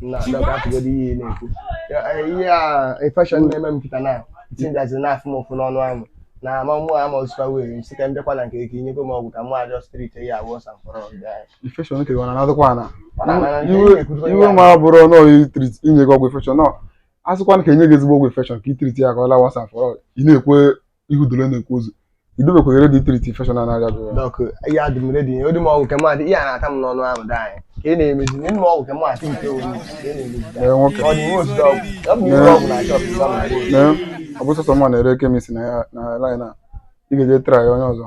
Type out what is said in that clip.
na She Doc what? hapụgodu ihe ị na-ekwu Ya, eh, ihe a infection na-eme m kịta na tinjazi na-afụ m ụfụ n'ọnụ ahụ na ama mụ ama o sikwa wee m sị ka m bịakwa na nke gị ka i nyekwa m ọgwụ ka mụ just treat ya once and for all ọbịa anyị. infection nke gị ọ na-anadịkwa ana Ọ na-ana na nke iwe ihe na-ekwuzi onye iwe ahụ. ma ọ bụrụ na i treat i nye gị ọgwụ infection no a sịkwa ka e nye gị ezigbo ọgwụ infection ka i treat ya ka ọ laa once and for all ị na-ekwe ihu dole na-ekwu ozu ị dịbekwa ready ị treat infection a na-arịa gị Doc adị m ready o nye m ọgwụ ka m treat ihe a na-ata m n'ọnụ ahụ di anyị ka ị na-emezi nye m ọgwụ ka m treat nke onwe m, ka ị na-emezi di anyị. nwoke ọ dị nwe otu ọgwụ ọ bụ nwe ọgwụ na shop ịgba m ahụ. na ọ bụ sọsọ mụwa na-ere chemist na line a ị ga-eje try onye ọzọ